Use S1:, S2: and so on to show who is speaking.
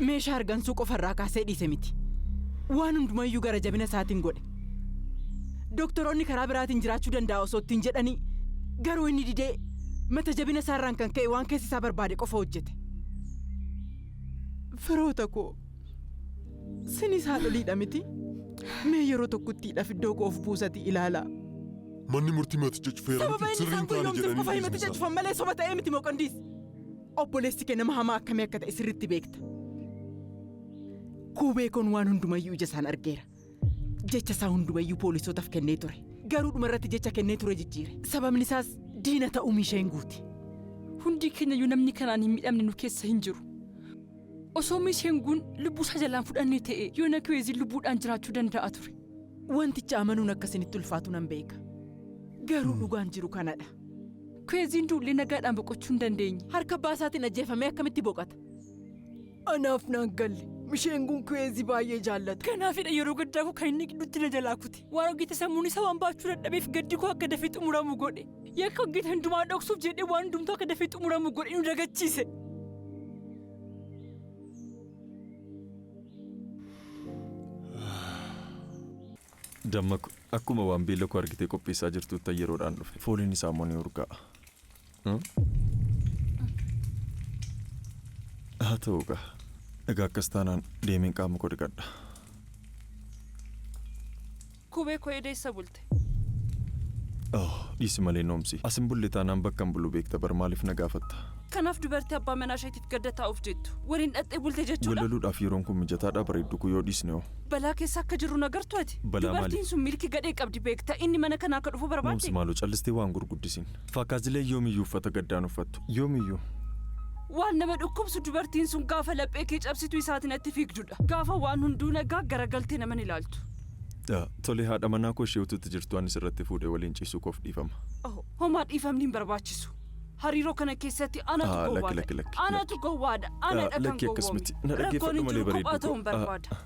S1: Meeshaa argansuu qofa irraa kaasee dhiise miti. Waan hundumayyuu gara jabina isaatiin godhe. Doktoroonni karaa biraatiin jiraachuu danda'a osoo ittiin jedhanii garuu inni didee mata jabina isaarraan kan ka'e waan keessi isaa barbaade qofa hojjete. Firoota koo, sinis haadholiidha miti? Mee yeroo tokkittiidhaaf iddoo koo of buusatii ilaalaa. Manni murtii
S2: himaticha cufeera Sababa miti inni sirrii isaan hin taane guyyoomsuuf jedhanii qofa himaticha dhiisuu isaa. cufan malee soba
S1: ta'ee miti moqondiis. Obboleessi kee nama hamaa akkamii akka ta'e sirriitti beekta. Kuubee kun waan hundumayyuu ija isaan argeera. Jecha isaa hundumayyuu poolisootaaf kennee ture. Garuu dhuma irratti jecha kennee ture jijjiire. Sababni isaas diina ta'uu miishee hin guute. Hundi
S3: keenyayyuu namni kanaan hin midhamne nu keessa hin jiru. Osoo Miis Henguun lubbuu isaa jalaan fudhannee ta'e yoona Kiweeziin lubbuudhaan jiraachuu danda'a ture. Wanticha amanuun
S1: akka isinitti ulfaatu nan beeka. Garuu dhugaan jiru kanadha. Kiweeziin
S3: duullee nagaadhaan boqochuu hin dandeenye. Harka abbaa isaatiin ajjeefamee
S1: akkamitti boqata? Anaaf naan galle. Misheenguun Kiweezii baay'ee jaallata. Kanaafidha yeroo gaddaa
S3: koo kan inni gidduutti na jalaa kute. Waan hojjete sammuun isaa waan baachuu dadhabeef gaddi koo akka dafee xumuramu godhe. Yakka hojjete hundumaa dhoksuuf jedhee waan hundumtuu akka dafee xumuramu godhe nu dagachiise.
S4: Dammaku, akkuma waan beela koo argitee qopheessaa jirtuuttan yeroodhaan dhufe. Fooliin isaa immoo ni urgaa'a. Haa ta'u egaa. Egaa akkas taanaan deemeen qaama koo dhiqadha.
S3: Kubee koo eeda eessa bulte? Oh,
S4: dhiisi malee noomsi. As hin bulle taanaan bakka hin bulu beekta bar maaliif na gaafatta? Kanaaf dubartii abbaa
S3: manaa isheetiif gadda taa'uuf jettu waliin dhaqxee bulte jechuudha? Wallaluudhaaf yeroon kun mijataadhaa
S4: bareeddu koo yoo dhiisne hoo? Balaa keessa akka jirru
S3: hin agartu ati? Balaa maaliif? Dubartiin sun milki
S4: gadhee qabdi
S3: beekta inni mana kana akka dhufu barbaadde? Noomsi maaloo callistee waa hin
S4: gurguddisiin. Faakaazileen yoomiyyu uffata gaddaa hin uffattu. Yoomiyyu. Waan
S3: nama dhukkubsu dubartiin sun gaafa laphee kee cabsitu isaati natti fiigdudha. Gaafa waan hunduu nagaa garagaltee nama hin ilaaltu. Dha. Tole
S4: haadha manaa koo ishee utuutti jirtuu ani sirratti fuudhee waliin ciisuu koof dhiifama. Oho. Homaa dhiifamni
S3: hin barbaachisu. Hariiroo kana keessatti anatu Ah, gowwaa lakki, lakki, ta'e. lakki, Anatu lakki. gowwaadha. Ah, Anadha kan lakki gowwoome. akkas miti. Na Rakkoon dhaggeeffadhu hin malee jiru kophaa bareedduu ta'uun koo. Ah, barbaada. ah.